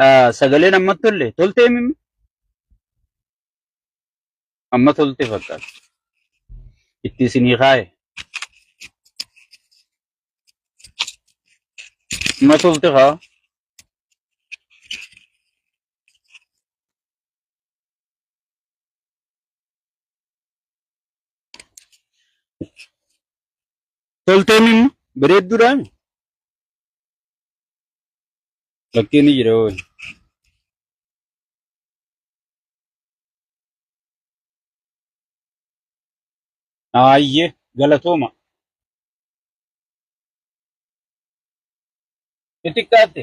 Ah, Sagaleen amma tolle. Toltee mimmi? Amma tolte fakkaata. Itti isinii kaaye. Amma tolte kaa. Toltee mimmi? Bareedduudhaan. Lakkii ni jira hoo. Aayye galatooma. Itti xiqqaatte.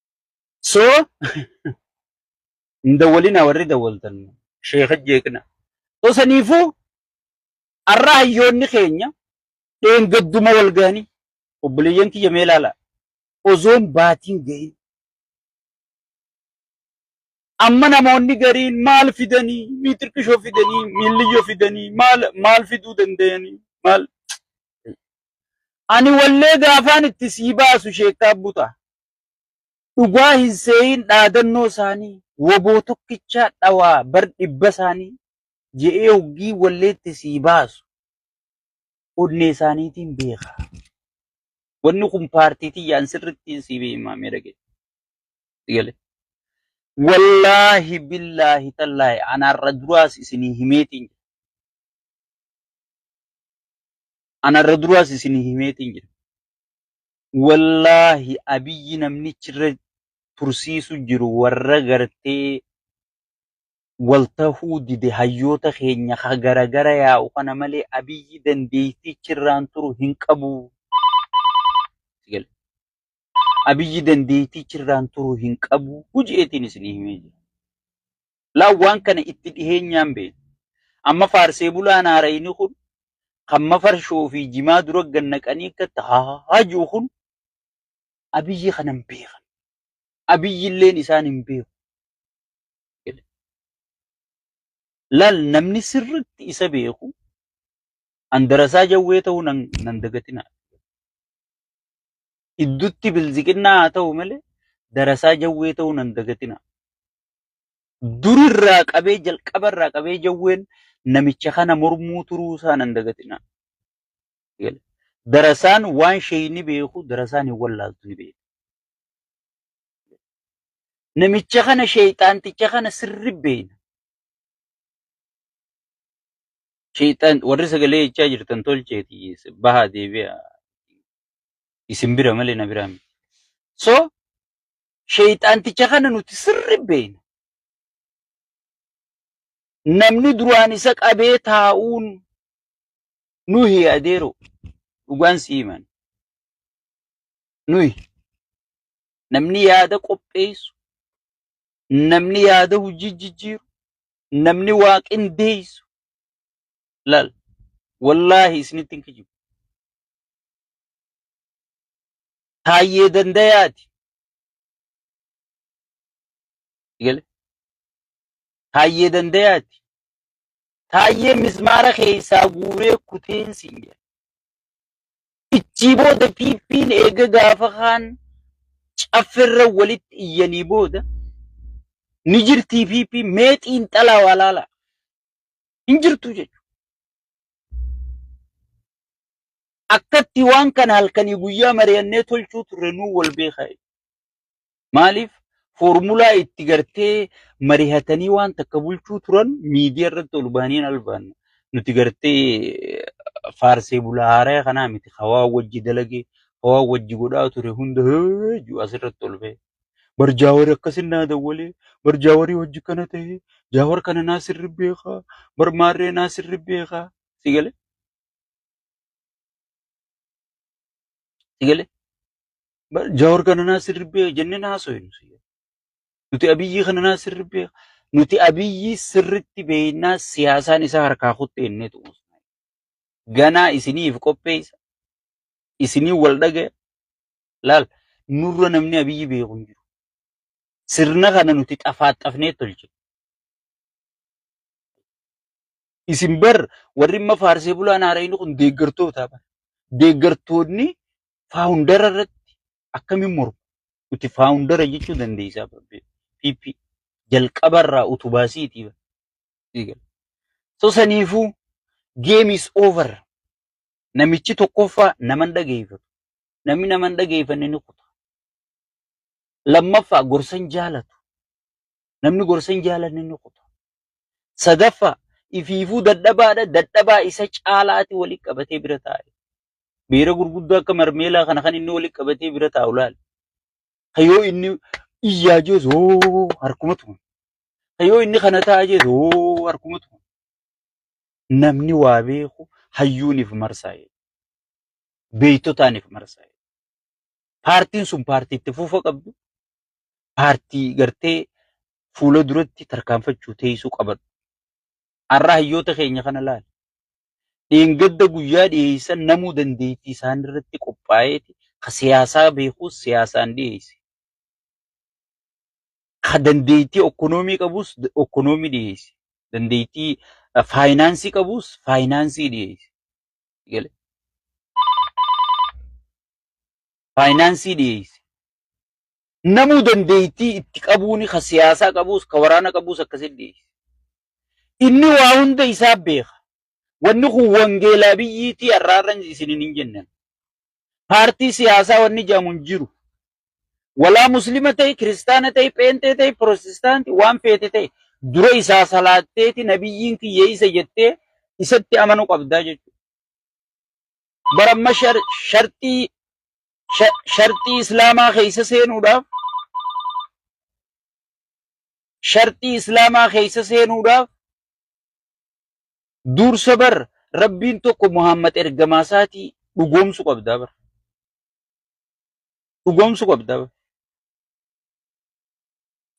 So hin dawwalinaa warri dawwaltan sheeka jeeqna. So saniifuu har'a hayyoonni keenya dheengadduma wal ga'anii obboleeyyan kiyya mee ilaalaa osoon baatiin ga'in amma namoonni gariin maal fidanii miitirkishoo fidanii miilliyyoo fidanii maal maal fiduu danda'anii maal ani wallee gaafaan itti sii baasu sheekaa buta Dhugaa hin seeyiin dhaadannoo isaanii woboo tokkichaa dhawaa bar dhibba isaanii je'ee hoggii walleetti sii baasu onnee isaaniitiin beeka. Wanni kun paartii tiyyaan sirrittiin sii beeyimaamee dhagee. Wallaahi billaahi tallaahi anaarra duraas isinii himeetiin jira. Anaarra duraas isinii himeetiin jira. Wollaahi Abiyyi namnichi irra tursiisu jiru warra gartee wol tahuu dide hayyoota keenya ka gara gara yaa'u kana malee Abiyyi dandeeytii chirraan turu hin qabu. Abiyyi dandeeytii chirraan turu hin qabu je'eetiin isinii himee jira. Laa waan kana itti dhiheenyaan beeka. Amma faarsee bulaan haarayni kun kan mafarshoo fi jimaa dura gad naqanii akka itti haahaa jiru kun Abiyyi kana hin beekan. Abiyyi illeen isaan hin beeku. Laal namni sirriitti isa beeku handarasaa jawwee ta'uu nan nan dagatinaa. Iddutti bilziqinnaa haa ta'u malee darasaa jawwee ta'uu nan dagatinaa. Dur irraa qabee jalqaba irraa qabee jawween namicha kana mormuu turuu isaa nan dagatinaa. Darasaan waan sheeyni beeku darasaan hin wallaaltu ni beeku. Namicha kana sheeyxaanticha kana sirri beeyna. Sheeyxaan warri sagalee jechaa jirtan tolcheeti bahaa deebi'a isin bira malee na biraa miti. So Sheeyxaanticha kana nuti sirri beekna. Namni duraan isa qabee taa'uun nuhi adeero dhugaan si himan. Nuhi namni yaada qopheessu, namni yaada hojii jijjiiru, namni waa qindeessu laal wallaahi isinitti hin kijibu. Taayyee Dandayaati. Gale. Taayyee Dandayaati. Taayyee mismaara keessaa guuree kuteen siin jedha. Ichii booda piippiin eega gaafa kaan caffirra walitti iyyanii booda ni jirtii piippii mee xiinxalaa waa laalaa. Hin jirtu jechuudha. akkatti waan kana halkanii guyyaa mari'annee tolchuu turre nuu wal beekaa. Maaliif foormulaa itti gartee mari'atanii waan takka bulchuu turan miidiyaa irratti ol baaniin albaanna. Nuti gartee faarsee bulaa haaraya kanaa miti hawaa wajji dalagee hawaa wajji godhaa ture hunda heeju asirratti ol ba'e. Bar jaawari akkasin naa dawwalee bar jaawari hojji kana ta'e jaawar kana naa sirri beekaa bar maarree naa sirri beekaa si galee. Sigale jawar kana naa sirribbee jennee naa soyinu sigale. Nuti abiyyii kana naa sirribbee nuti abiyyii sirritti beeknaa siyaasaan isaa harkaa kutte jennee tuqu. Ganaa isiniif qopheessa isinii wal dhagaya laal nurra namni abiyyii beeku hin jiru. Sirna kana nuti xafaaxafnee tolchine. Isin bar warri amma faarsee bulaan haarayni kun deeggartoota bar. Deeggartoonni faawundara irratti akkamiin mormu? Nuti faawundara jechuu dandeessaa bar. PP jalqabarraa utubaa siitii bar. Eegal. So saniifuu game is over. Namichi tokkoffaa nama hin dhageeffatu. Namni nama hin dhageeffanne ni kuta. Lammaffaa gorsa hin jaalatu. Namni gorsa hin jaalanne ni kuta. Sadaffaa, ifiifuu dadhabaadha, dadhabaa isa caalaati walitti qabatee bira taa'e. Beera gurguddoo akka marmeelaa kana kan inni walitti qabatee bira taa'u laali. Ka yoo inni iyyaa jees hoo harkuma tuman. Ka yoo inni kana ta'a jees hoo harkuma tuman. Namni waa beeku hayyuuniif marsaa'e. Beektotaaniif marsaa'e. Paartiin sun paartii itti fufa qabdu, paartii gartee fuula duratti tarkaanfachuu teessuu qabadhu. Har'a hayyoota keenya kana laali. Dheengadda guyyaa dhiyeessan namuu dandeettii isaan irratti qophaa'eeti ka siyaasaa beekuus siyaasaan dhiyeesse. Ka dandeettii okkonoomii qabuus okkonoomii dhiyeesse. Dandeettii faayinaansii qabuus faayinaansii dhiyeesse. Faayinaansii dhiyeesse. Namuu dandeettii itti qabuuni ka siyaasaa qabuus ka waraana qabuus akkasitti dhiyeessa. Inni waa hunda isaa beeka. Wanni kun wangeelaa biyyiitii har'aarran isinin hin jennan. Paartii siyaasaa wanni jedhamu hin jiru. Walaa muslima ta'i, kiristaana ta'i, pheenxee ta'i, pirotestaanti waan feete ta'i. Dura isaa salaatteeti nabiyyiin kiyya isa jettee isatti amanu qabdaa jechuudha. Bara amma shar- sharxii sha- sharxii islaamaa keessa seenuudhaaf sharxii islaamaa keessa seenuudhaaf dursa bar rabbiin tokko muhammad ergamaa isaatii dhugoomsu qabdaa bar dhugoomsu qabdaa bar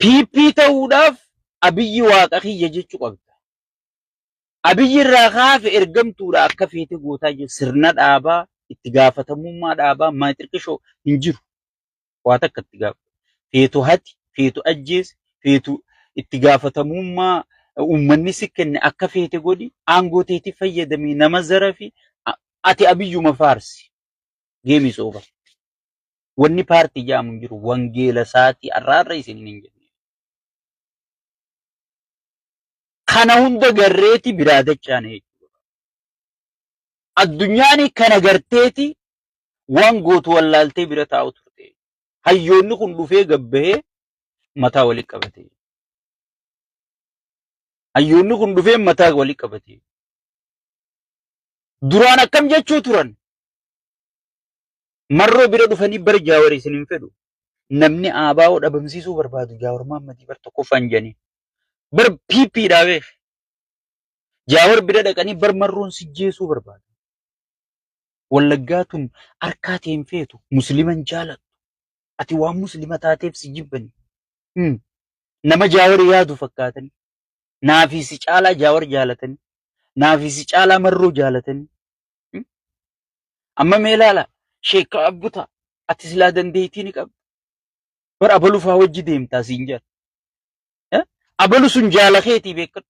piippii ta'uudhaaf abiyyi waaqa kiyya jechuu qabda Abiy irraa kaafe ergamtuudha akka feete gootaa jiru sirna dhaabaa itti gaafatamummaa dhaabaa maa xiqqishoo hin jiru waa takka itti gaafata feetu hati feetu ajjeesi feetu itti gaafatamummaa uummanni si kenne akka feete godhi aangoo teetii fayyadamii nama zarafi a- ati abiyyuma faarsi geemii sooba wanni paartii jaamu hin jiru wangeela saatii arraarra isin hin jenne kana hunda garreeti biraa dacha'an jechuudha. Addunyaan kana garteeti waan gootu wallaaltee bira taa'u turte. Hayyoonni kun dhufee gabbahee mataa walitti qabate. Hayyoonni kun dhufee mataa walitti qabate. Duraan akkam jechuu turan? Marroo bira dhufanii bara jaawar isin hin fedhu. Namni aabaa'oo dhabamsiisuu barbaadu jaawar Maammadii bar tokkoffaan jedhanii. Bar PP dhaa beek. Jaawar bira dhaqanii bar marroon sijjeesuu barbaada. Wallaggaa tun harkaa tee hin feetu. Musliman jaalattu. Ati waan muslima taateef si jibbani. Hmm. Nama jaawar yaadu fakkaatani. Naafii si caalaa jaawar jaalatani. Naafii si caalaa marroo jaalatani. Hmm. Amma mee ilaala. Sheekka abbuta. Ati silaa dandeettii ni qabda. Bar abalufaa wajji deemtaa siin jala. Eh? Abalu sun jaala keetii beekadhu.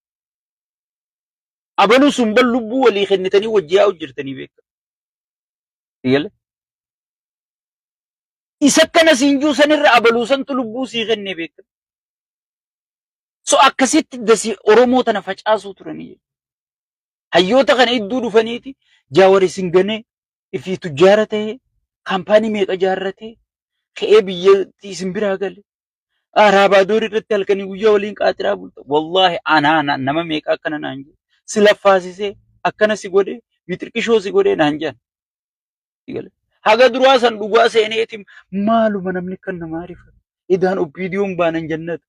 Abalu sun bal lubbuu walii kennitanii wajji yaa'u jirtanii beekadhu. Eegale? Isa akkana siin jiru sanirra abaluu santu lubbuu sii kennee beekadhu. So akkasitti dasi Oromoo tana facaasuu turanii jechuudha. Hayyoota kana idduu dhufaniiti jaawar isin ganee ifii tujjaara ta'ee kaampaanii meeqa jaarratee ka'ee biyyatti isin biraa gale Araabaadoor irratti halkanii guyyaa waliin qaaxiraa bulta. Wallaahi anaa na- nama meeqa akkana naan jedhe. Si laffaasisee akkana si godhee bixirqishoo si godhee naan jedhan. Eegale. Haga duraa san dhugaa seeneetiin maaluma namni kan namaa rifa. Idaan oppiidiyoon baanan jannata.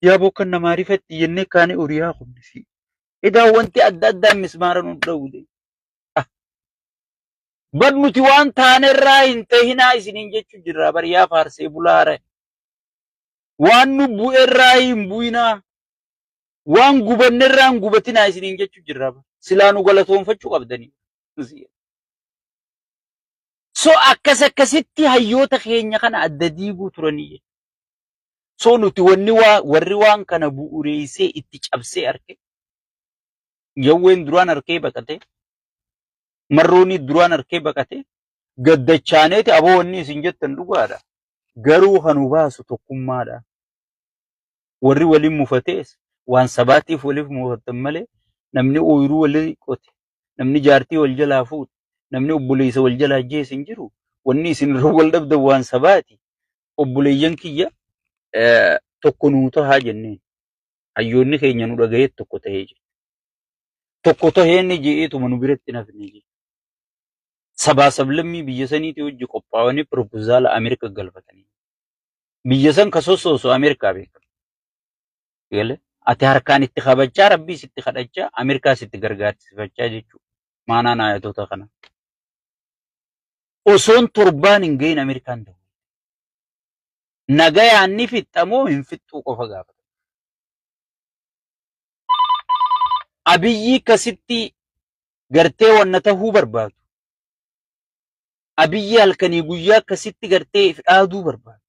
Yaaboo kan namaa rifatti jennee kaanii horiyaa kunnisi. Idaan wanti adda addaa mismaara nu dhawude. Bar nuti waan taanerraa hin tahinaa isiniin jechuu jirra bar yaa faarsee bulaara waan nu bu'erraa hin bu'inaa waan gubannerraa hin gubatinaa isiniin jechuu jirra bara. silaa nu galatoonfachuu qabdanii so akkas akkasitti hayyoota keenya kana adda diiguu turanii jechuudha. so nuti wanni waa warri waan kana bu'ureessee itti cabsee arke jawween duraan arkee baqate marroonii duraan arkee baqate gaddachaaneeti aboo wanni isin jettan dhugaadha. Garuu kan nu baasu tokkummaadha. Warri waliin mufatees waan sabaatiif waliif mufattan malee namni ooyiruu walii qote, namni jaartii wal jalaa fuudhe, namni obboleessa wal jalaa ajjeese hin jiru. Wanni isin irra wal dhabdan waan sabaati. Obboleeyyan kiyya tokko nuu tahaa jenneen. Hayyoonni keenya nu dhagayeet tokko tahee jira. Tokko tahee inni je'eetuma nu biratti hin hafne jechuudha. sabaa sablammii biyya saniitii hojji qophaa'anii piroopozaala Ameerikaa galfatanii biyya san ka sossoosu Ameerikaa beekan. Galee ati harkaan itti kabachaa rabbiis itti kadhachaa Ameerikaas itti gargaarsifachaa jechuudha. Maanaan ayatoota kana. Osoon torbaan hin gahin Ameerikaan ta'u. Nagayaan ni fixxamoo hin fixxuu qofa gaafata. Abiyyii kasitti gartee wanna tahuu barbaadu. Abiyyi halkanii guyyaa akkasitti gartee if dhaaduu barbaadu.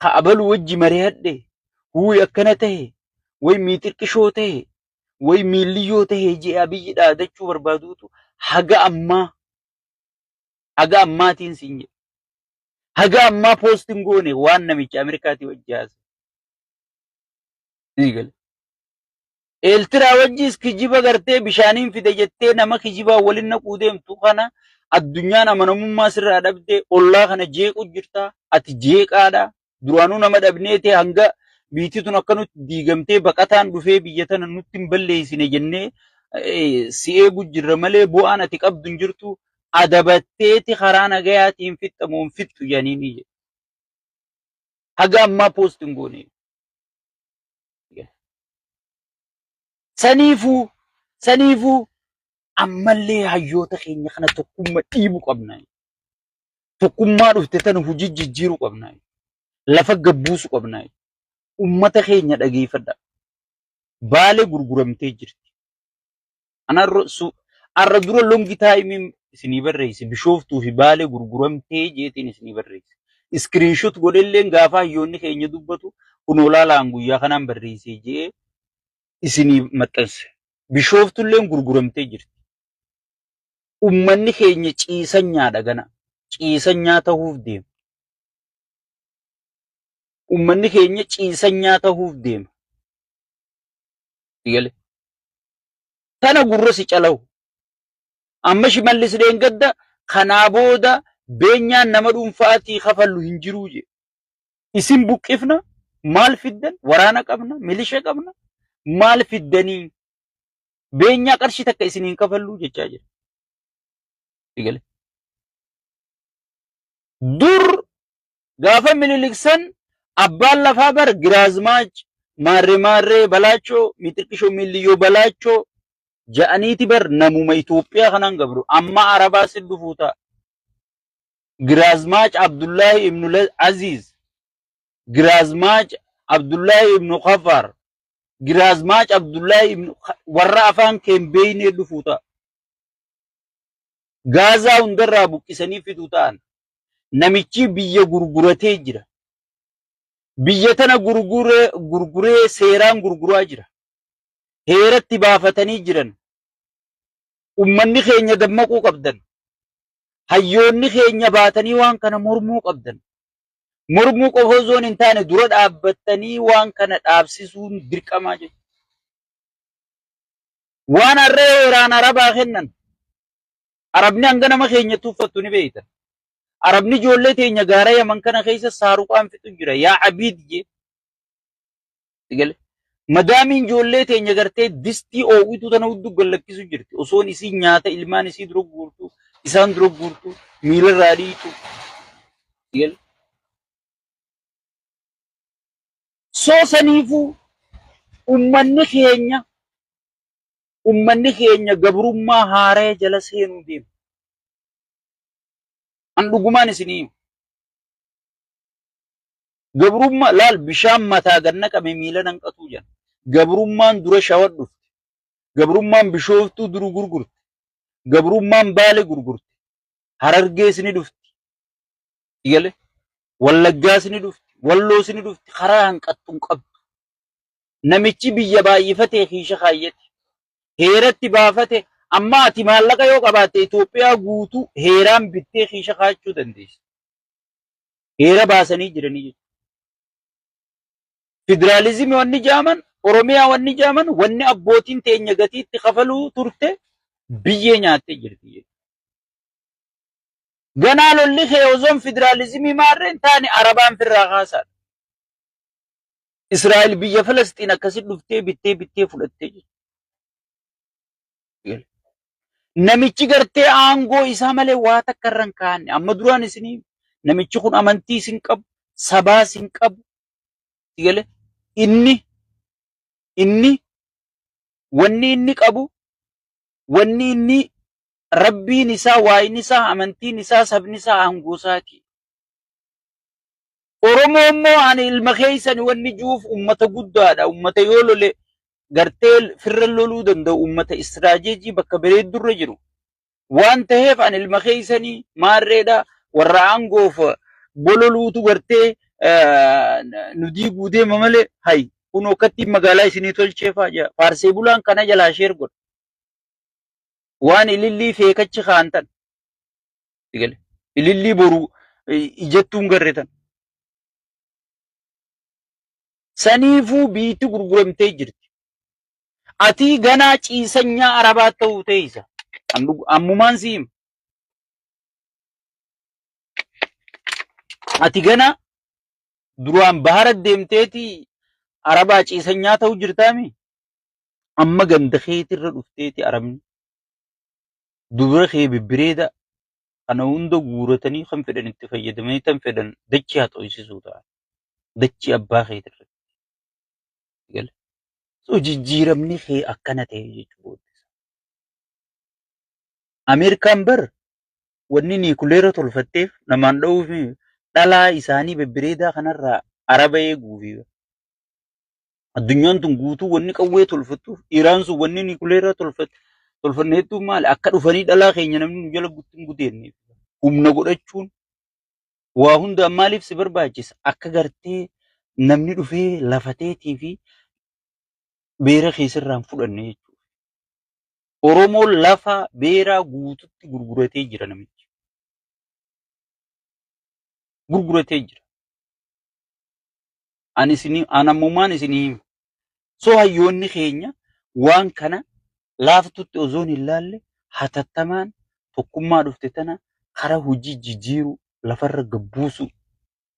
Ka abalu wajji marihadhe, huuy akkana tahe, way miixirqishoo tahe, way miilliyyoo tahe jee abiyyi dhaadachuu barbaaduutu haga ammaa haga ammaatiin siin jedhe. Haga ammaa poostiin goone waan namicha Ameerikaatii wajji haasa'e. Ni gale. Eeltiraa wajjis kijiba gartee bishaaniin fide jettee nama kijibaan waliin naquu deemtu kana addunyaan amanamummaa sirraa dhabdee ollaa kana jeequu jirta. Ati jeeqaadha. Duraanuu nama dhabneeti hanga biitti tun akka nutti diigamtee baqataan dhufee biyya tana nutti hin balleessine jennee eh, si eegu jirra malee bu'aan ati qabdu hin jirtu. Adabatteeti karaa nagayaatiin fixxamoo hin fixxu jedhaniini jedhe. Haga ammaa poost hin goone. Saniifuu saniifuu ammallee hayyoota keenya kana tokkumma dhiibu qabna. Tokkummaa dhufte tana hojii jijjiiru qabna. Lafa gabbuusu qabna. Ummata keenya dhageeffadha. Baalee gurguramtee jirti. Anarra su arra dura longi taayimiin isinii barreesse bishooftuu fi baalee gurguramtee jeetiin isinii barreesse. Iskiriinshot godhelleen gaafa hayyoonni keenya dubbatu kunoo laalaan guyyaa kanaan barreessee je'ee isinii maxxanse. Bishooftulleen gurguramtee jirti. Ummanni keenya ciisanyaadha gana. Ciisanyaa tahuuf deema. Ummanni keenya ciisanyaa tahuuf deema. Sigale. Tana gurra si calahu. Amma shimallis dheengadda kanaa booda beenyaan nama dhuunfaatii kafallu hin jiruu jee. Isin buqqifna maal fiddan waraana qabna milisha qabna maal fiddanii beenyaa qarshii takka isin hin kafalluu jechaa jira. Sigale. Dur Gaafa Minilik san abbaan lafaa bar Giraazmaach Maarree Maarree Balaachoo Mixiqqishoo Miilliyyoo Balaachoo ja'aniiti bar namuma Itoophiyaa kanaan gabru amma Arabaa sin dhufuu ta'a. Giraazmaach Abdullaahi Ibnu Aziiz, Giraazmaach Abdullaahi Ibnu Kafaar, Giraazmaach Abdullaahi Ibnu warra afaan kee hin beeynee dhufuu ta'a. Gaazaa hundarraa buqqisanii fiduu ta'an. Namichi biyya gurguratee jira. Biyya tana gurguree gurguree seeraan gurguraa jira. Heeratti baafatanii jiran. Ummanni keenya dammaquu qabdan. Hayyoonni keenya baatanii waan kana mormuu qabdan. Mormuu qofa osoo hin taane dura dhaabbattanii waan kana dhaabsisuun dirqamaa jechuudha. Waan harree heeraan Arabaa kennan. Arabni hanga nama keenya tuffattu ni beektan. Arabni ijoollee teenya gaara Yaman kana keessa saaruqaan fixu jira. Yaa abiid jee. Sigale. Madaamiin ijoollee teenya gartee distii oowituu tana hudduu gallakkisu jirti. Osoon isii nyaata ilmaan isii dura guurtu, isaan dura guurtu, miilarraa dhiitu. Sigale. Soo saniifuu ummanni keenya ummanni keenya gabrummaa haaraya jala seenuu deema. An dhugumaan isinii himu. Gabrummaa laal bishaan mataa gad naqame miila nanqatuu jedhan. Gabrummaan dura shawa dhufte. Gabrummaan bishooftuu duru gurgurte. Gabrummaan baale gurgurte. Harargees ni dhufti. Igale Wallaggaas ni dhufti, Walloos ni dhufti, karaa hanqattu hin qabdu. Namichi biyya baay'ifatee kiisha kaayyate, heeratti baafate, amma ati maallaqa yoo qabaatte Itoophiyaa guutuu heeraan bittee kiisha kaachuu dandeessa. Heera baasanii jiranii jechuudha. Federaalizimii wanni jaaman, Oromiyaa wanni jaaman, wanni abbootiin teenya gatiitti kafaluu turte biyyee nyaattee jirti jechuudha. Ganaa lolli kee ozoon fidiraalizimii maarree hin taane Arabaan firraa kaasaadha. Israa'el biyya Falasxiin akkasi dhuftee bittee bittee fudhattee jirti. Namichi gartee aangoo isaa malee waa takka irra hin kaa'anne. Amma duraan isinii namichi kun amantii isin qabu, sabaa isin qabu. Itti galee inni inni wanni inni qabu wanni inni Rabbiin isaa, waayni isaa, amantiin isaa, sabni isaa aangoo isaati. Oromoo immoo ani ilma keessani wanni juuf ummata guddaadha. Ummata yoo lole gartee firra loluu danda'u ummata istiraajeejii bakka bareeddurra jiru. Waan ta'eef ani ilma keessanii maarreedha warra aangoof bololuutu gartee nu diiguu deema malee hayi kun akkattiin magaalaa isinii tolcheefaa jira. Faarsee bulaan kana jalaa sheer godha. waan ilillii feekachi kaan tan sigale ilillii boru ijattuun garre tan saniifuu biitti gurguramtee jirti atii ganaa ciisanyaa arabaa ta'uu teeysa ammumaan siim ati ganaa duraan bahara deemteeti arabaa ciisanyaa ta'uu jirtaami amma ganda keetirra dhufteeti arabni dubra kee bibbireeda kana hunda guuratanii kan fedhan itti fayyadamanii tan fedhan dachii haa xooysisuu ta'a dachii abbaa keetirra gale so jijjiiramni kee akkana ta'e jechuudha ameerikaan bar wanni niikuleera tolfatteef namaan dha'uuf dhalaa isaanii bibbireedaa kanarraa araba eeguufi Addunyaan tun guutuu wanni qawwee tolfattuuf Iraan sun wanni nikuleeraa tolfatte tolfanne hedduun maali akka dhufanii dhalaa keenya namni nu jala guttin gudeenne humna godhachuun waa hundaan maaliif si barbaachisa akka gartee namni dhufee lafateetii fi beera keessarraa hin fudhanne jechuudha. Oromoon lafa beeraa guututti gurguratee jira namichi. Gurguratee jira. Ani isinii an ammumaan isinii hima. So hayyoonni keenya waan kana laaftutti ozoon hin laalle hatattamaan tokkummaa dhufte tana karaa hojii jijjiiruu lafarra gabbuusuu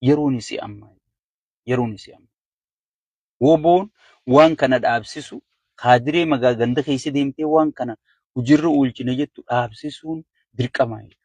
yeroon isii amma yeroon isii amma. Woboon waan kana dhaabsisu kaadiree magaa ganda keessa deemtee waan kana hojiirra oolchina jettu dhaabsisuun dirqamaa jechuudha.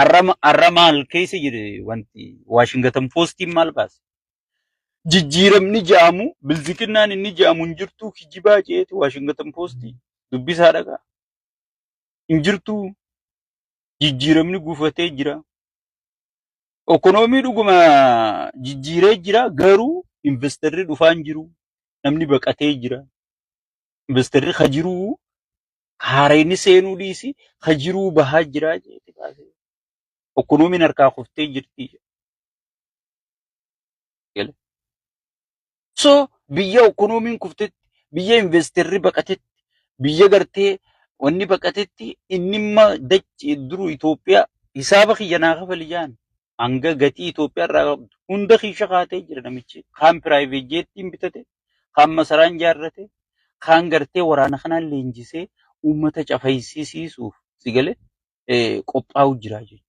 Arra arra maal keessa jire wanti Waashingatan Poostiin maal baase? Jijjiiramni jaamu bilziqinnaan inni jaamu hin jirtuu kijibaa jeeti Waashingatan Poostii dubbisaa dhagaa hin jirtuu jijjiiramni gufatee jira. Ekonoomii dhuguma jijjiiree jira garuu investarri dhufaa hin jiru namni baqatee jira investarri ka jiruu haarayni seenuu dhiisi ka jiruu bahaa jiraa jeeti baasee. Okkonuumiin harkaa kuftee jirti. Gale. So biyya okkonuumiin kuftetti, biyya investerri baqatetti, biyya gartee wanni baqatetti inni imma dachi duru Itoophiyaa hisaaba kiyya naa kafali jaan. hanga gatii Itoophiyaa irraa qabdu hunda keessa kaatee jira namichi. Kaan piraayiveet jeettiin bitate, kaan masaraan ijaarrate, kaan gartee waraana kanaan leenjisee uummata cafayisiisuuf si galee qophaa'u jira jechuudha.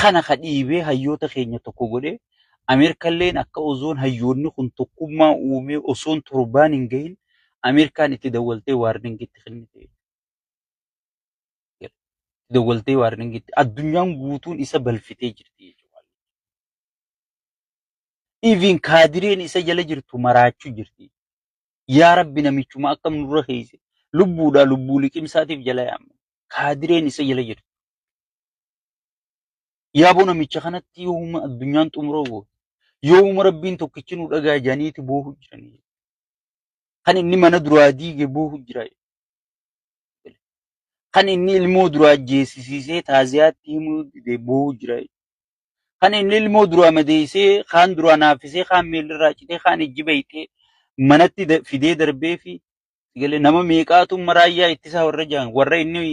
Kana ka dhiibee hayyoota keenya tokko godhee Ameerikalleen akka osoon hayyoonni kun tokkummaa uumee osoon torbaan hin gahin Ameerikaan itti dawwaltee waarningitti kennite. dawwaltee waarningitti addunyaan guutuun isa balfitee jirti jechuudha. Iviin kaadireen isa jala jirtu maraachuu jirti. Yaa Rabbi namichuma akkam nurra keeyse lubbuudhaa lubbuu liqimsaatiif jala yaamne kaadireen isa jala jirtu. Yaaboo namicha kanatti yooma addunyaan xumuroo goote yooma Rabbiin tokkichi nu dhagaa janiiti boohu jiranii. Kan inni mana duraa diige boohu jira. Kan inni ilmoo duraa jeesisiisee taaziyaatti himuu dide boohu jira. Kan inni ilmoo duraa madeessee kaan duraa naaffisee kaan miilirraa citee kaan ijji bayxee manatti da- fidee darbee fi galee nama meeqaatu amma raayyaa ittisaa warra jaan warra inni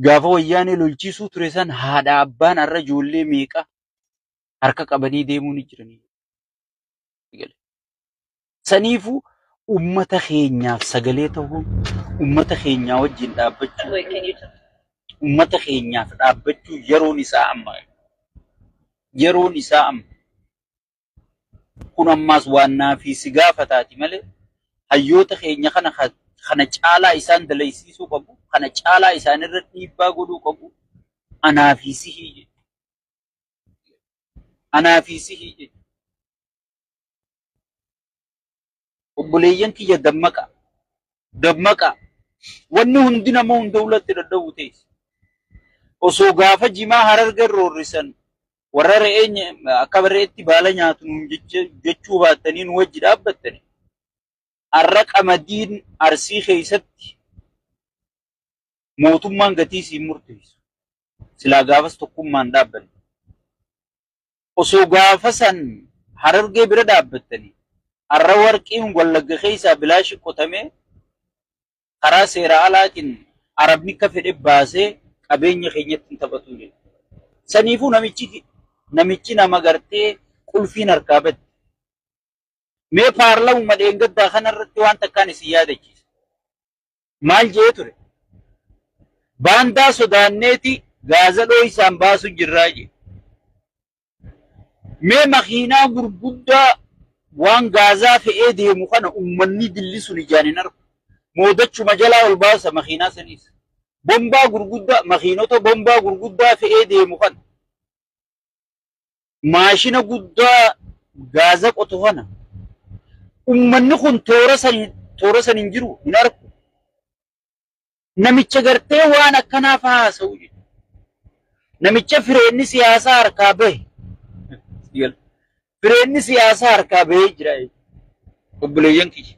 gaafa wayyaanee lolchiisuu ture san haadha abbaan har'a ijoollee meeqa harka qabanii deemuu ni jiranii. gale. Saniifuu ummata keenyaaf sagalee ta'uun ummata keenyaa wajjin dhaabbachuu ummata keenyaaf dhaabbachuu yeroon isaa amma yeroon isaa amma kun ammaas waan naafii si gaafataati malee hayyoota keenya kana ka- kana caalaa isaan dalaysiisuu qabu kana caalaa isaanirra dhiibbaa godhuu qabu anaa fi sihii jedhu. Anaa fi sihii jechuudha. Obboleeyyan kiyya dammaqaa. Dammaqaa. Wanni hundi nama hunda ulatti dadhabu teessi. Osoo gaafa jimaa harargeen roorrisan warra re'ee nya- akka re'eetti baala nyaatu nuun jecha- jechuu baattanii nu wajji dhaabbattani. Har'a qamadiin arsii keessatti mootummaan gatii siin murteessu. silaa gaafas tokkummaan dhaabbanne. Osoo gaafa san harargee bira dhaabbattanii har'a warqiin wallagga keessaa bilaashi qotamee karaa seeraa alaatiin arabni akka fedhe baasee qabeenya keenyatti hin taphatu jedhu. Saniifuu namichi namichi nama gartee qulfiin harkaa badde. Mee paarlamuma dheengaddaa kanarratti waan takkaan isin yaadachiisa. maal jee ture? Baandaa sodaanneeti gaaza dhooysaan baasu jirraa jee. Mee makiinaa gurguddaa waan gaazaa fe'ee deemu kana ummanni dilli sun ijaan hin argu. Moodachuma jalaa ol baasa makiinaa saniis. Bombaa gurguddaa makiinota bombaa gurguddaa fe'ee deemu kana. maashina guddaa gaaza qotu kana ummanni kun toora san toora san hin jiru hin arku. Namicha gartee waan akkanaa fa'aa haasa'u jechuudha. Namicha fireenni siyaasaa harkaa bahe. Fireenni siyaasaa harkaa bahee jira jechuudha. Obboleeyyan kiyya.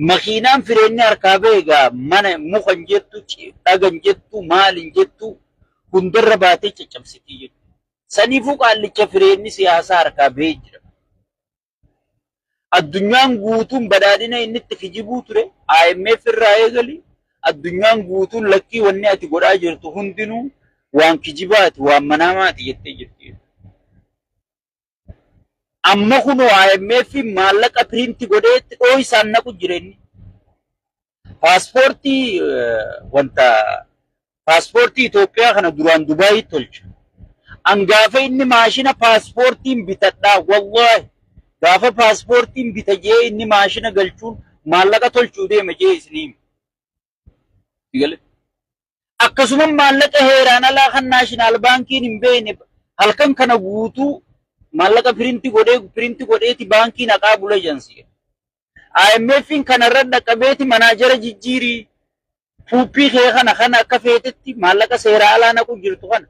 Makiinaan fireenni harkaa bahe egaa mana muka hin jettu, dhaga hin jettu, maal hin jettu hundarra baatee caccabsitii jirti. Saniifuu qaallicha fireenni siyaasaa harkaa bahee jira. Addunyaan guutuun badhaadhina inni itti kijibuu ture IMF irraa eegali addunyaan guutuun lakkii wanni ati godhaa jirtu hundinuu waan kijibaati, waan manaamaati jettee jirti. Amma kunoo IMF maallaqa piriinti godhee itti dhooysaan naqu jireenyi. Paaspoortii wanta paaspoortii Itoophiyaa kana duraan Dubaayitti tolcha. An gaafa inni maashina paaspoortiin bitadhaa wallaahi gaafa paaspoortiin bita jee inni maashina galchuun maallaqa tolchuu deema jee isinii hima. Sigale. Akkasuma maallaqa heeraan alaa kan naashinaal baankiin hin beekne halkan kana guutuu maallaqa pirinti godhee pirinti godheeti baankii naqaa bula jansi. IMF'n kanarra dhaqqabeeti manaajara jijjiirii puuppii kee kana kana akka feetetti maallaqa seeraa alaa naqu jirtu kana.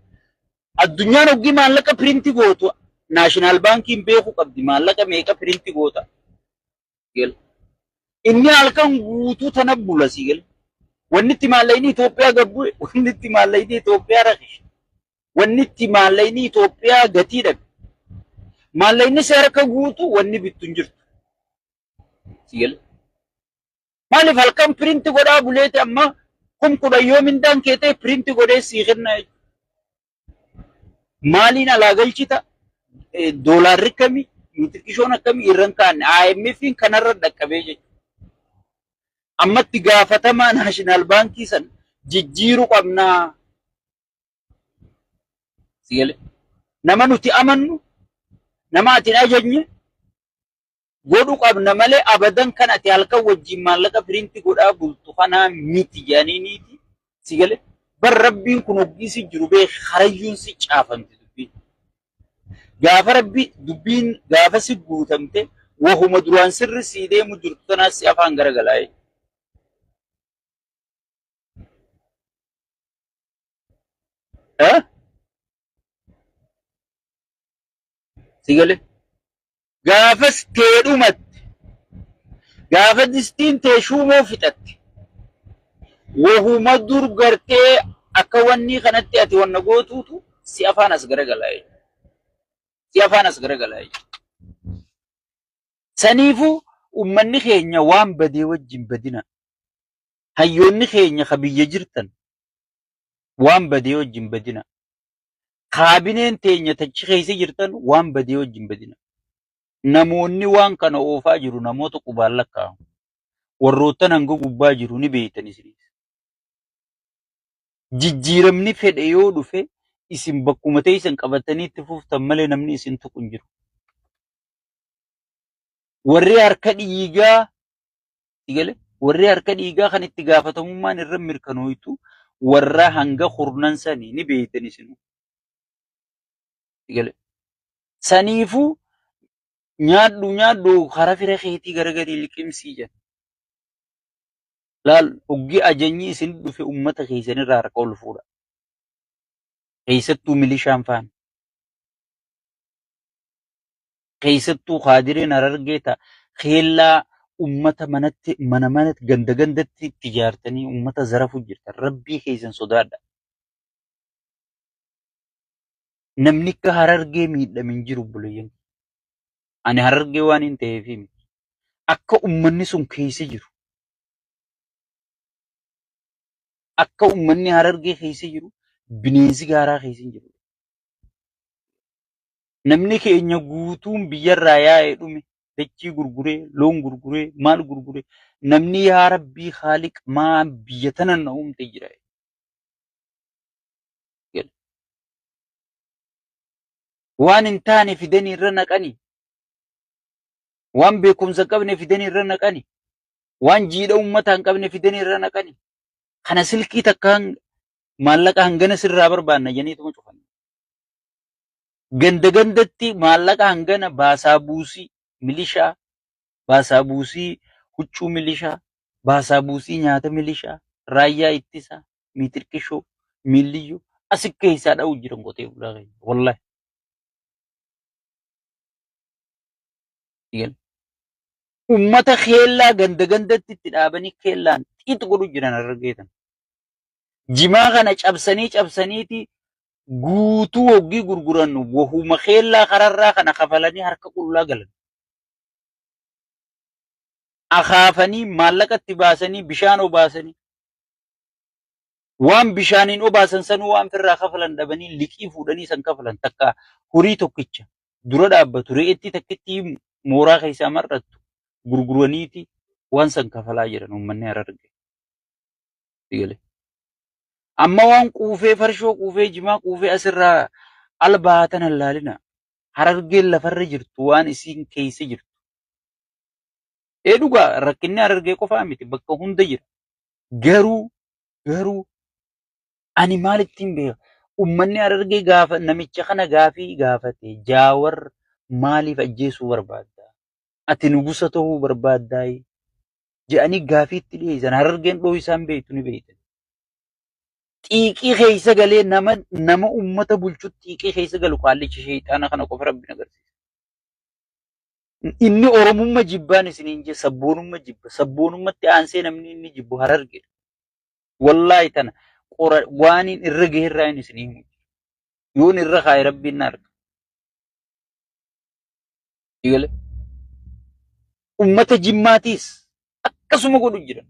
Addunyaan hoggii maallaqa pirinti gootu naashinaal baankiin beeku qabdi maallaqa meeqa pirinti goota. Gal. Inni halkan guutuu tana bula si gal. Wanni itti maallaqni Itoophiyaa gabbu wanni itti maallaqni Itoophiyaa rakishe. Wanni itti maallaqni Itoophiyaa gatii dhabe. Maallaqni si harka guutuu wanni bittu hin jirtu. Si gal. Maaliif halkan piriinti godhaa buleeti amma kum kudhan yoo mindaan keetee piriinti godhee sii kenna jechuudha. Maaliin alaa galchita? Doolaarri akkami? Nutirkishoon akkami irra hin kaa'anne? IMF'n kanarra dhaqqabee jechuudha. Ammatti gaafatamaa naashinaal baankii san jijjiiru qabnaa. Nama nuti amannu, nama ati hin ajajne, godhu qabna malee abadan kan ati halkan wajjin maallaqa piriinti godhaa bultu kanaa miti jedhaniiniiti si gale bar rabbiin kun hoggii si jiru bee karayyuun si caafamti dubbiin gaafa rabbi dubbiin gaafa si guutamte wahuma duraan sirri sii deemu jirtu tanaa si afaan garagalaa'e. Eh? Si gale? Gaafas tee dhumatte. Gaafa distiin tee shuumoo fixatte. Wahuma dur gartee akka wannii kanatti ati wanna gootuutu si afaan as garagalaa jechuudha. Si afaan as garagalaa jechuudha. Saniifuu ummanni keenya waan badee wajjin badina. Hayyoonni keenya ka biyya jirtan waan badee wajjin badina. Kaabineen teenya tachi keessa jirtan waan badee wajji hin badina. Namoonni waan kana oofaa jiru namoota qubaan lakkaa'amu. Warroottan hanga gubbaa jiru ni beektan isinis. Jijjiiramni fedhe yoo dhufe isin bakkuma teessan qabatanii itti fuftan malee namni isin tuqu hin jiru. Warri harka dhiigaa Itti gale? Warri harka dhiigaa kan itti gaafatamummaan irra mirkanooytu warra hanga kurnan sanii ni beeytan isinu. Itti gale? Saniifuu nyaadhu nyaadhu kara fira keetii garagalii liqimsii jedha. Laal hoggi ajanyi isin dhufe ummata keessan irraa harka ol fuudha. Keessattuu milishaan faana. keessattuu kaadireen Harargee ta keellaa ummata manatti mana manatti ganda gandatti itti ijaartanii ummata zarafu jirtan rabbii keessan sodaadha. Namni akka Harargee miidhame hin jiru obboleeyyan. Ani Harargee waan hin ta'eef miti. Akka ummanni sun keessa jiru akka ummanni Harargee keessa jiru bineensi gaaraa keessa hin jiru. Namni keenya guutuun biyyarraa yaa'e dhume, dachii gurguree, loon gurguree, maal gurguree, namni yaa Rabbii Khaaliq maa biyya tana na uumte jira. Waan hin taane fidanii irra naqani. Waan beekumsa hin qabne fidanii irra naqani. Waan jiidha uummataa hin qabne fidanii irra naqani. Kana silkii takkaan maallaqa hangana sirraa barbaanna janiituma cufan. ganda gandatti maallaqa hangana baasaa buusii milishaa, baasaa buusii huccuu milishaa, baasaa buusii nyaata milishaa, raayyaa ittisaa, miitirqishoo, miilliyyoo asi keessaa dha'u jiran qotee bulaa keenya. Wallahi. Dhigan. Ummata keellaa ganda gandatti itti dhaabanii keellaan xiixi godhu jiran harargeetan. Jimaa kana cabsanii cabsaniiti guutuu hoggii gurguran wahuma keellaa kararraa kana kafalanii harka qullaa galan. Akaafanii maallaqa itti baasanii bishaan obaasanii waan bishaaniin obaasan sanuu waan firraa kafalan dhabanii liqii fuudhanii san kafalan takka horii tokkicha dura dhaabbatu re'eetti takkitti mooraa keessaa mar'attu gurguraniiti waan san kafalaa jiran uummanni hararge. itti gale. Amma waan quufee farshoo quufee jimaa quufee asirraa al baatan hallaalina. Harargeen lafarra jirtu waan isiin keessa jirtu. Ee dhugaa rakkinni harargee qofaa miti bakka hunda jira. Garuu garuu ani maal ittiin beeka? Uummanni harargee gaafa namicha kana gaafii gaafate jaawar maaliif ajjeesuu barbaadda? Ati nugusa ta'uu barbaaddaa? jedhanii gaafiitti dhiyeessan harargeen dhoo isaan beektu ni beektan. Xiiqii keessa galee nama nama uummata bulchu xiiqii keessa galu qaallichi sheexaana kana qofa rabbi agarsiisa. Inni oromumma jibbaan isiniin jee sabboonumma jibba sabboonummatti aansee namni inni jibbu harargeedha. Wallaahi tana qora waaniin irra gaherraa hin isinii himu. Yoon irra kaa'e rabbiin na arga. Eegale. Ummata jimmaatiis akkasuma godhu jira.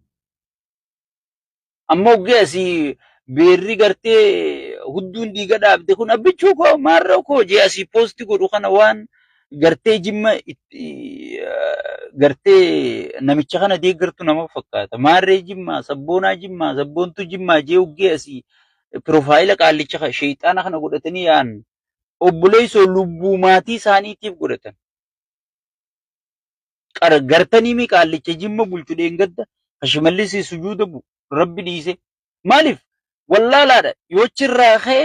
Amma oggee asii beerri gartee hudduun dhiiga dhaabde kun abbichuu koo maarra koo jee asii poosti godhu kana waan gartee jimma itti gartee namicha kana deeggartu nama fakkaata. Maarree jimmaa sabboonaa jimmaa sabboontuu jimmaa jee oggee asii piroofaayila qaallicha sheexaana kana godhatanii yaa'an obboleessoo lubbuu maatii isaaniitiif godhatan. Qara gartanii mi qaallicha jimma bulchu dheengadda ka shimallisii sujuuda bu rabbi dhiise. Maaliif wallaalaadha yoo chirraa ka'e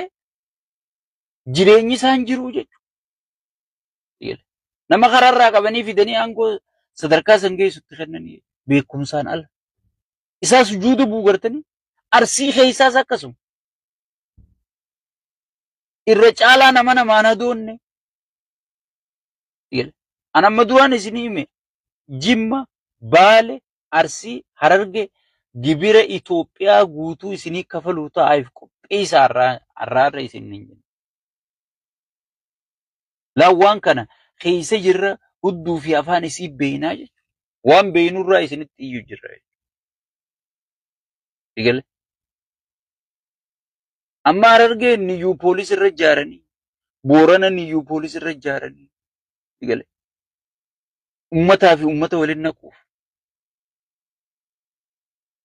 jireenyi isaan jiruu jechuudha. Nama karaarraa qabanii fidanii aangoo sadarkaa san geessutti kennanii beekumsaan ala. Isaa sujuuda buu gartanii arsii keessaas akkasuma. irra caalaa nama namaan hadoonne jedha. An amma duraan isin hime Jimma, Baale, Arsii, Hararge gibira Itoophiyaa guutuu isinii kafaluu ta'aaf qopheessa har'aa har'aarra isin hin jenna. Laa waan kana keessa jirra hudduu fi afaan isii beeynaa jechuudha. Waan beeynurraa isinitti iyyuu jirra jechuudha. Egalee. Amma Harargee niyyuu poolis irra ijaaranii, Boorana niyyuu poolis irra ijaaranii, gale. Ummataa fi ummata waliin naquuf.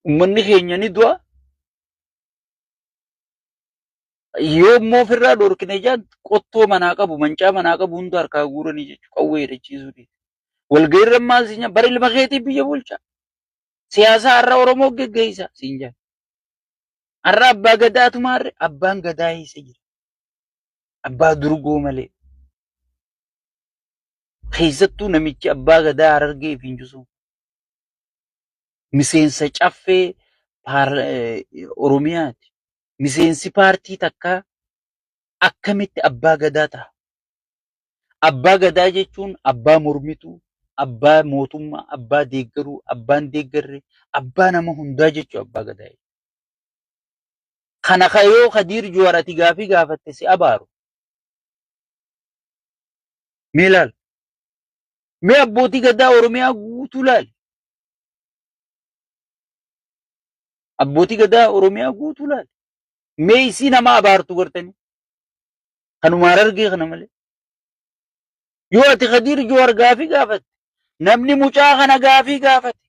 Ummanni keenya ni du'a. Yoo immoo ofirraa dhorkine jaan qottoo manaa qabu, mancaa manaa qabu hunda harkaa guuranii jechuudha. Qawwee hidhachiisuu dhiise. Walga'iirra maal siin jaan bara ilma keetii biyya bulchaa. Siyaasaa har'a Oromoo geggeessaa siin jaan. Har'a abbaa gadaatu maarre abbaan gadaa eessa jira? Abbaa durgoo malee. Keessattuu namichi abbaa gadaa harargee fi injusuu. Miseensa caffee paar- eh, Oromiyaati. Miseensi paartii takkaa akkamitti abbaa gadaa ta'a? Abbaa Gadaa jechuun abbaa mormituu, abbaa mootummaa, abbaa deeggaruu, abbaa hin deeggarre, abbaa nama hundaa jechuu abbaa Gadaa. Kana ka yoo Kadiir Juwaar ati gaafii gaafatte si abaaru. Mee laal. Mee abbootii Gadaa Oromiyaa guutuu laali. Abbootii Gadaa Oromiyaa guutuu laali. Mee isii nama abaartu gartanii. Kanuma harargee kana malee. Yoo ati Kadiir Juwaar gaafii gaafatte namni mucaa kana gaafii gaafate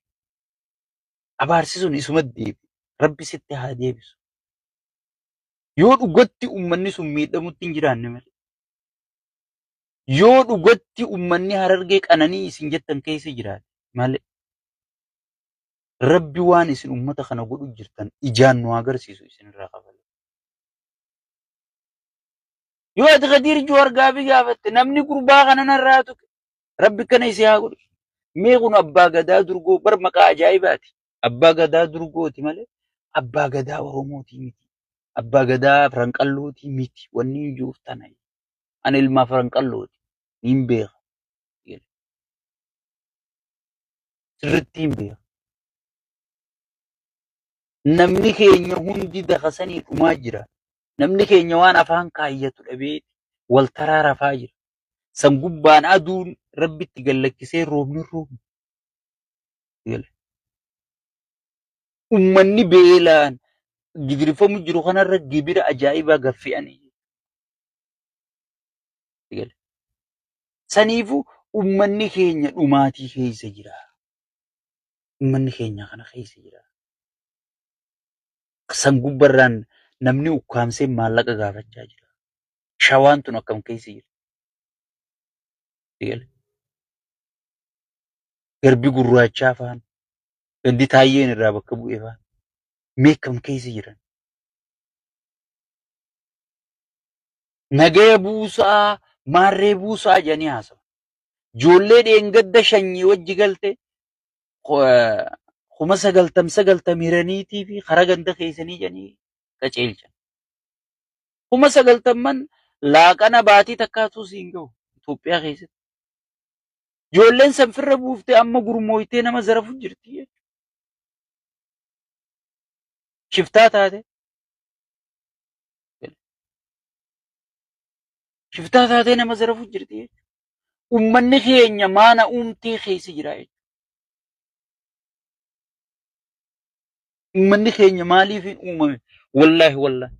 abaarsi sun isuma deebi. Rabbi sitti haa deebisu. Yoo dhugatti ummanni sun miidhamutti hin jiraanne malee. Yoo dhugatti ummanni harargee qananii isin jettan keessa jiraate malee. Rabbi waan isin ummata kana godhu jirtan ijaan nu agarsiisu isinirraa kafalu. Yoo ati Kadiir Juwaar gaafii gaafatte namni gurbaa kana narraa tuqe rabbi kana isii haa godhu. Mee kun abbaa gadaa durgoo bar maqaa ajaa'ibaati. Abbaa gadaa durgooti malee abbaa gadaa Oromootii miti. Abbaa gadaa Firanqallootii miti. Wanni hin jiruuf tana. Ani ilmaa Firanqallooti. Niin beeka. Sirriitti hin beeka. Namni keenya hundi dakasanii dhumaa jira. Namni keenya waan afaan kaayyatu dhabee wal taraa rafaa jira. San gubbaan aduun rabbitti gallakkisee roobni roobni. Ummanni beelaan gidirfamu jiru kanarra gibira ajaa'ibaa gaffi'anii. Saniifu ummanni keenya dhumaatii keessa jira. Ummanni keenya kana keessa jira. San gubbarraan namni ukkaamsee maallaqa gaafachaa jira. Shawaan tun akkam keessa jira. Eegale. Garbi gurraachaa faan gandi taayyeen irraa bakka bu'ee faan mee akkam keessa jiran. Nagaya buusaa maarree buusaa jedhanii haasawa. Ijoollee dheengadda shanyii wajji galte kuma sagaltam sagaltam hiraniitii fi karaa ganda keessanii jedhanii qaceelchan. Kuma sagaltamman laaqana baatii takkaatuu siin gahu Itoophiyaa keessatti. Ijoolleen san firra buuftee amma gurmooytee nama zarafu jirti jechuudha. Shiftaa taate. Shiftaa taatee nama zarafu jirti jechuudha. ummanni keenya maana uumtee keessa jira jechuudha. Ummanni keenya maaliif hin uumame? Wallaahi wallaahi.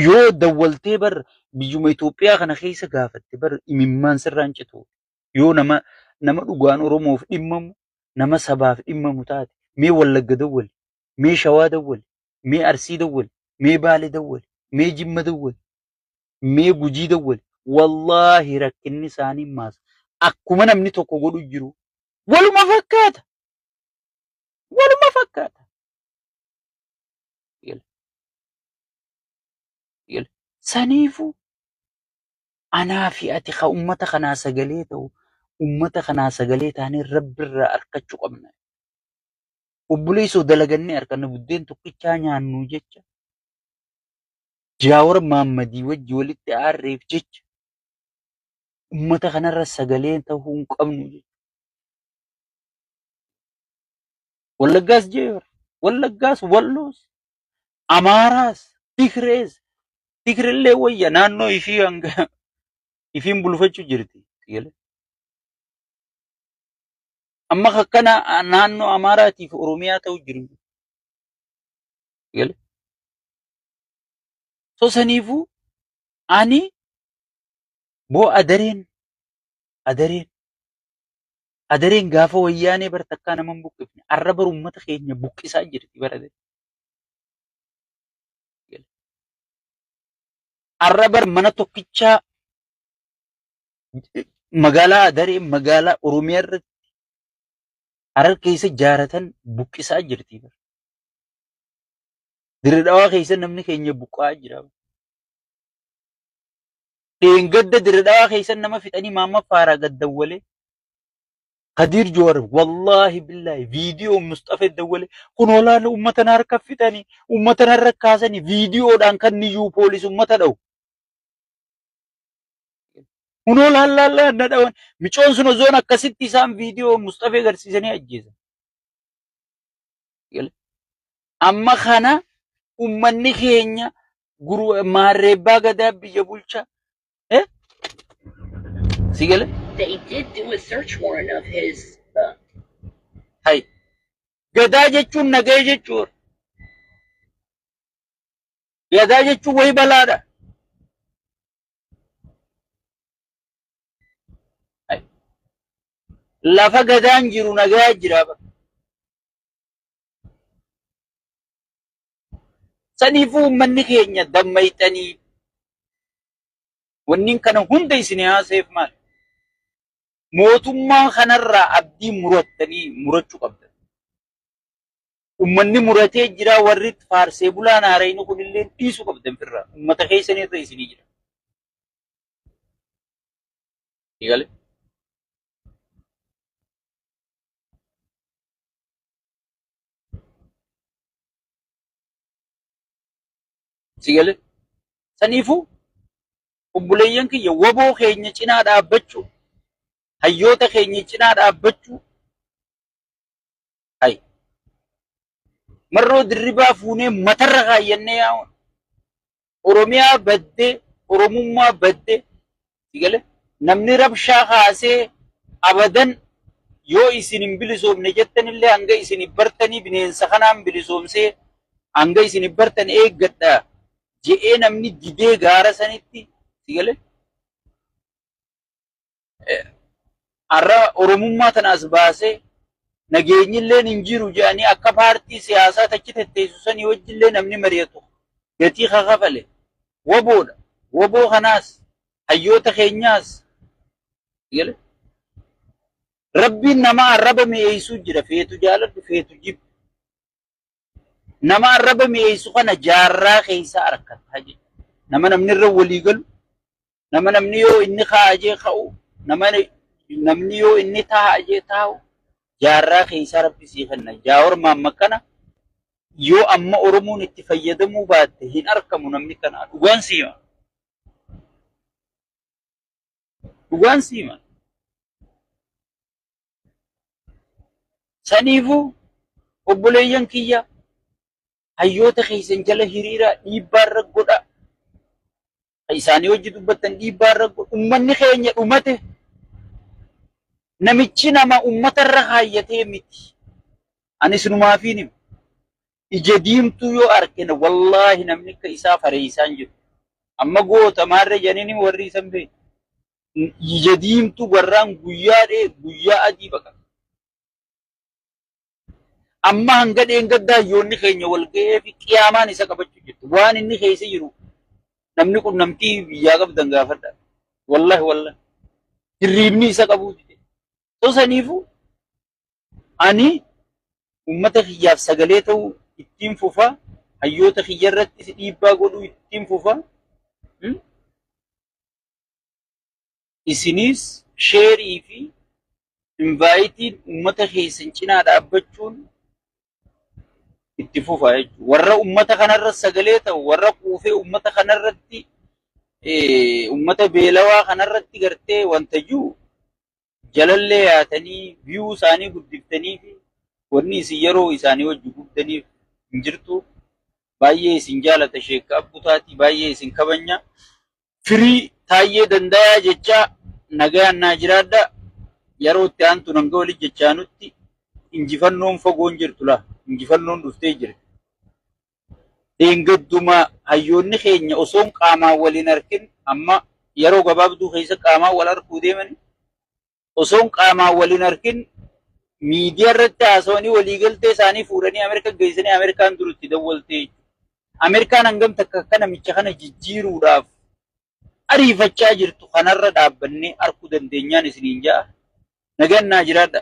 Yoo dawwaltee bar biyyuma Itoophiyaa kana keessa gaafatte bar imimmaan sirraa hin citu. Yoo nama nama dhugaan Oromoof dhimmamu, nama sabaaf dhimmamu taate, mee Wallagga dawwali, mee Shawaa dawwali, mee Arsii dawwali, mee Baale dawwali, mee Jimma dawwali, mee gujii dawwali wallaahi rakkinni isaanii maasa akkuma namni tokko godhu jiru waluma fakkaata waluma fakkaata Yala, yala. saniifuu anaa fi ati ka ummata kanaa sagalee ta'u ummata kanaa sagalee taanee rabbirraa arkachuu qabna obboleessoo dalagannee arkanna buddeen tokkichaa nyaannuu jecha Jaawar Maammadii wajji walitti aarreef jecha ummata kanarra sagalee tahuu hin qabnu jechuudha. Wallaggaas jeebar, Wallaggaas Walloos, Amaaraas, Tigrees, Tigrellee wayya naannoo ishii hanga ishiin bulfachuu jirti. Tigree. Amma akka na- naannoo Amaaraatiif Oromiyaa ta'u jiru. Tigree. So saniifuu ani boo adareen adareen adareen gaafa wayyaanee bar takkaa nama hin buqqifne arra bar uummata keenya buqqisaa jirti bar adareen. Arra bar mana tokkichaa magaalaa adaree magaalaa Oromiyaa irratti harar keessa jaaratan buqqisaa jirti bar. Dirree dhawaa keessa namni keenya buqqa'aa jira. Dheengadda dirree dhawaa keessa nama fixanii maamma faaraa gad dawwale. Kadiir Joowar wallaahi billaahi viidiyoo Musxafee dawwale kun olaana uummata na harka fixanii uummata na harka kaasanii viidiyoodhaan kan niyyuu poolis uummata dhawu. Kun olaan laallaan na dhawan micoon sun osoon akkasitti isaan viidiyoo Musxafee agarsiisanii ajjeesan. Amma kana ummanni keenya maarreebbaa gadaa biyya bulcha. Si gale? They did do a search warrant of his. Uh, Hai. Gadaa jechuun nagaya jechuudha. Gadaa jechuun wayi balaadha. Lafa gadaan jiru nagaa jira. Saniifuu uummanni keenya dammayxanii wanniin kana hunda isin haaseef maal? Mootummaa kanarraa abdii murattanii murachuu qabdan. Ummanni muratee jiraa warri faarsee bulaan haarayni kunilleen dhiisu qabdan firra ummata keessan irra isinii jira. Eegale. Sigale. Saniifuu obboleeyyan kiyya waboo keenya cinaa dhaabbachuu hayyoota keenya cinaa dhaabbachuu Hay. Marroo dirribaa fuunee matarra kaayyannee yaa'uun. Oromiyaa badde, Oromummaa badde. Sigale namni rabshaa kaasee abadan yoo isin hin bilisoomne jettanillee hanga isin bartanii bineensa kanaan bilisoomsee hanga isin bartan eeggadha je'ee namni didee gaara sanitti sigale Har'a Oromummaa tana as baasee nageenyi illee hin jiru jedhanii akka paartii siyaasaa tachi tetteessu sanii wajji illee namni mari'atu gatii ka kafale waboodha. Waboo kanaas hayyoota keenyaas rabbiin nama arraba mi'eessuu jira feetu jaaladhu feetu jibbi. Nama arraba mi'eessu kana jaarraa keessa arkatta jedha. Nama namni irra walii galu, nama namni yoo inni kaa'a jee ka'u, nama namni yoo inni taa'a jee taa'u, jaarraa keessa rabbi sii kenna. Jaawar Mahammad kana yoo amma Oromoon itti fayyadamuu baatte hin arkamu namni kana. Dhugaan siima. Dhugaan siima. Saniifuu obboleeyyan kiyya hayyoota keessan jala hiriiraa dhiibbaa irra godha. Isaanii hojii dubbattan dhiibbaa irra godha. Ummanni keenya dhumate namichi nama ummata irra kaayyatee miti. Ani sinumaafiin hima. Ija diimtuu yoo argine wallaahi namni akka isaa fareessaan jiru. Amma goota maarree janiin warri isan beeku. ija diimtuu garraan guyyaa dhee guyyaa adii baqata. Amma hanga dheengaddaa hayyoonni keenya wal ga'ee fi qiyaamaan isa qabachuu jirti. Waan inni keessa jiru namni kun namtii biyyaa qabdan gaafadha. Wallahi wallahi. Hirriibni isa qabuu dide. Osoo saniifuu ani uummata kiyyaaf sagalee ta'uu ittiin fufa. Hayyoota kiyya irrattis dhiibbaa godhuu ittiin fufa. Isinis share fi invite ummata keessan cinaa dhaabbachuun itti fufaa jechuudha. Warra ummata kanarra sagalee ta'u, warra quufee ummata kanarratti, ummata beelawaa kanarratti gartee wanta jiru jalallee yaatanii view isaanii guddiftaniifi wanni isin yeroo isaanii wajji gubdaniif hin jirtu baay'ee isin jaalata sheekka abbu taati baay'ee isin kabanya firii taayyee dandayaa jechaa nagayaan naa jiraadha yeroo itti aantu nanga wali jechaanutti injifannoon fagoon jirtu la injifannoon dhuftee jirti Dheengadduma hayyoonni keenya osoon qaamaan wal hin arkin amma yeroo gabaabduu keessa qaamaan wal arguu deemanii osoon qaamaan wal hin arkin miidiyaa irratti haasawanii waliigaltee isaanii fuudhanii Ameerika geessanii Ameerikaan dur itti dawwaltee Ameerikaan hangam takka akka namicha kana jijjiiruudhaaf ariifachaa jirtu kanarra dhaabbannee arguu dandeenyaan isiniin ja'a. Nagaan naa jiraadha.